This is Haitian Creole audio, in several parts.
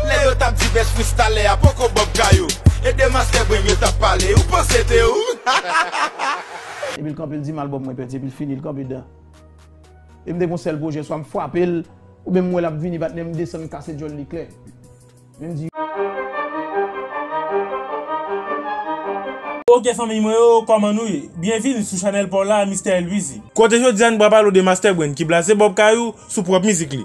Lè yo tap di best freestyler a poko bob kayou E de master brain yo tap pale ou panse se te ou hahahaha. Epi l kanpe l di m albòm mwen pèdi epi l fini l kanpe dan E m te gen yon sèl pwojè swa m fwape l oubyen m wè l ap vini patnè m desann m kase djòl li klè Men m di Ok fanmiy mwen yo kòman nou ye? Byenvini sou chanèl paw la Mister Elwizy. Kote jodi a nou pral pale w de Master Brain ki blaze Bob Kayou sou pwòp mizik li.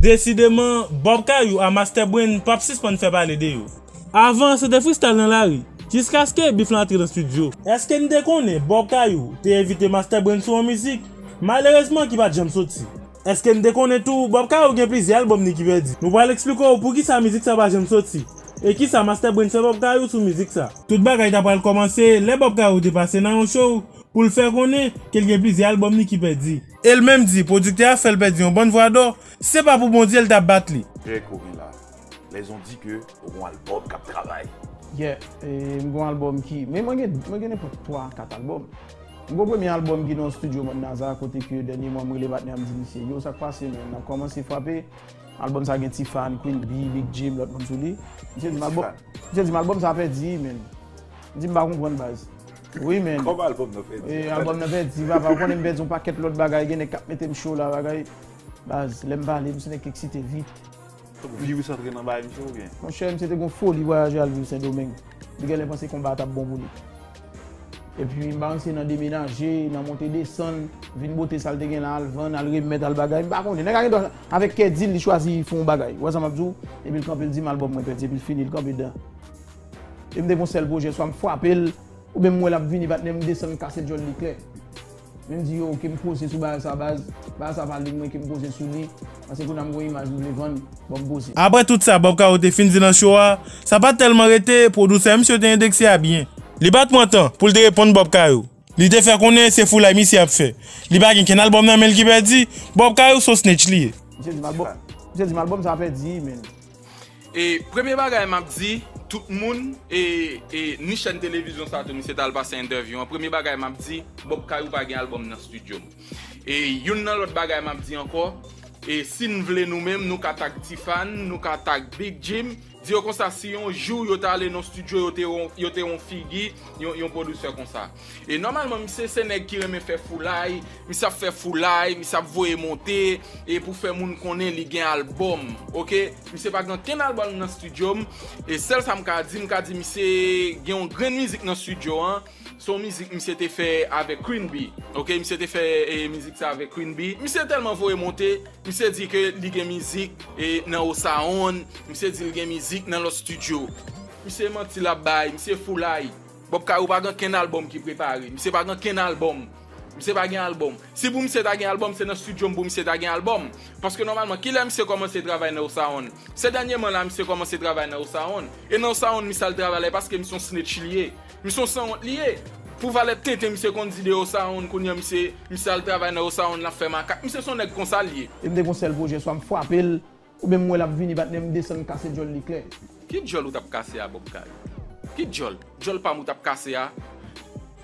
Desideman, Bob Kayou a Master Brain pap sispann fè pale de yo. Avan, se te freestyle nan lari, jiskaske Beef lan antre nan studio. Eske n te konnen Bob Kayou te envite Master Brain sou yon mizik, malerezman ki pa t janm soti? Eske n te konnen tou Bob Caro gen plizyè albòm li ki pèdi? Nou pral eksplike w poukisa mizik sa pa janm soti, e kisa Master Brain fè Bob Caro sou mizik sa. Tout bagay ta pral kòmanse lè Bob Caro te pase nan yon show pou l fè konnen ke l gen plizyè albòm li ki pèdi. E l menm di pwodiktè a fè l pèdi yon bann vwa dò, si se pa pou Bondye l ta bat li. Pè ke w gen la, les on di ke w gen yon albòm k ap travay. Yeah, m gen yon albòm ki, men mwen gen nenpòt 3 a 4 albòm. M gwo premye album ki nan studio man Naza kote ke dènye mwa m rele patnè a m di misye yo sak pase men nap kòmanse frape Album sa gen Ti Fan, Queen Bee, Big Jim lòt moun sou li Misye di m album Misye di m album sa pèdi wi menn M di m pa konprann baz Wi menn Kòman album nan pèdi Wi album nan pèdi papa ou konnen m pèdi yon pakèt lòt bagay gen nèg kap mete m cho la bagay Baz lè m pale m se nèg ki eksite vit. Fok virus antre nan baye misye ou byen. Monchè misye te gon foli vwayaje al viv sendomeng. Li genlè panse konba a tap bon pou li. Epi m pa konn si se nan demenaje, nan monte desann, vin bote sa l te gen la al vann, al remèt, al bagay, m pa konnen. Nèg la gendwa avèk kè di l li chwazi fè yon bagay. Ou wè sa m ap di w? Epi l kanpe l di mal bòm mwen pèdi epi l fini l kanpe dan. Epi m te gon sèl pwojè swa m frape l oubyen m wè l ap vini patnè m desann m kase djòl li klè. Men m di yo ke m poze sou bagay sa baz, bagay sa pa li mwen ke m poze sou li, paske kounye a m gen yon imaj m vle vann, bon m poze. Aprè tout sa Bob Caro te fin di nan show a, sa pat tèlman rete, pwodusè a misye te endekse a byen. Li pat pran tan pou l te reponn Bob Caro, li te fè konnen se foulay misye ap fè, li pa gen kenn album nan men l ki pèdi, Bob Caro s on snitch li ye. Misye di m album sa pèdi men. E premye bagay map di tout moun e e ni chèn televizyon sa tou misye tal pase entèvyou an premye bagay map di Bob Kayou pa gen album nan studio m e youn nan lòt bagay map di ankò e sin vle nou menm nou ka tag Tifan nou ka tag Big Jim di yo konsa si yon jou yo ta ale nan studio yo te yo te yon figi yon yon producer konsa. E nòmalman misye se nèg ki renmen fè foulay, misye ap fè foulay, misye ap voye monte, e pou fè moun konnen li gen albòm, ok. Misye pa gen ankenn albòm nan studio m, e sèl sa m ka di, m ka di misye gen yon grenn mizik nan studio an, se yon mizik misye te fè avèk Queen Bee, ok, misye te fè mizik sa avèk Queen Bee. Misye tèlman voye monte, misye di ke li gen mizik nan Osaonn, misye di li gen mizik nan lòt studio. Misye manti l ap bay, misye foulay. Bob Kaï ou pa gen kenn album ki prepare, misye pa gen kenn album, misye pa gen album. Si pou misye ta gen album se nan studio m pou misye ta gen album. Paske nòmalman kilè misye kòmanse travay nan Osaonn? Se dènyeman la misye kòmanse travay nan Osaonn. E nan Osaonn misye al travay la e paske misye yon snitch li ye. Misye yon sanwont li ye. Pou valè tenten misye konn di de Osaonn kounye an misye, misye al travay nan Osaonn lap fè makak. Misye son nèg konsa l ye. E m te gen yon sèl pwojè swa m frape l Ou menm m wè lap vini patnè m desann m kase djòl li klè. Ki djòl ou tap kase a Bob Kay? Ki djòl? Djòl pam ou tap kase a?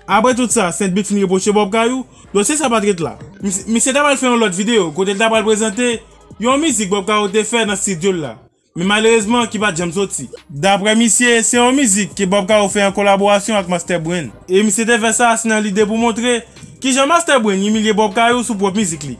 Apre tout sa Saintbit fin repwoche Bob Kayou, dosye sa pat ret la. Misye ta pral fè yon lòt videyo kote l ta pral prezante yon mizik Bob Kayou te fè nan stidyo l la, men malerezman ki pat janm soti. Daprè misye, se yon mizik ke Bob Kayou fè an kolaborasyon ak Master Brain. E misye te fè sa se nan lide pou montre kijan Master Brain imilye Bob Kayou sou pwòp mizik li.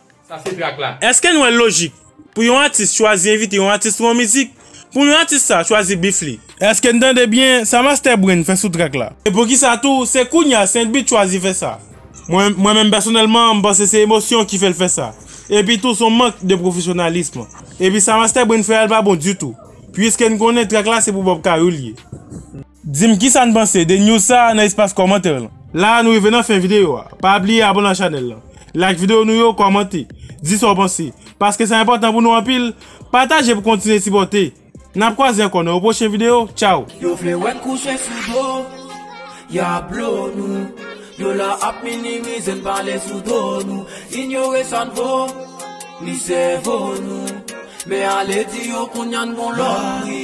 Eske n wè l lojik pou yon atis chwazi envite yon atis pou yon mizik pou yon atis sa chwazi beef li? Eske n tande byen sa Master Brain fè sou track la? E poukisa tou se kounya Saintbeat chwazi fè sa? Mwen menm pèsonèlman m panse se emosyon ki fè l fè sa. Epi tou s on mank de pwofesyonalism. Epi sa Master Brain fè a l pa bon ditou. Puiske n konnen track la se pou Bob Cayou l ye. Di m kisa n panse de news sa nan espas kòmantè lan. La nou rive nan fen videyo a, pa bliye abone ak chanèl lan, like videyo nou yo, kòmante, di sa w panse, paske sa enpòtan pou nou anpil, pataje pou kontinye sipòte, nap kwaze ankò nan yon pwochen videyo, tchaw. Yo vle wè n kouche sou do, ya blo nou Yo la ap minimize n pale sou do nou Inyore sa n vo, ni sèvo nou Men ale di yo kounya n gon lòt pri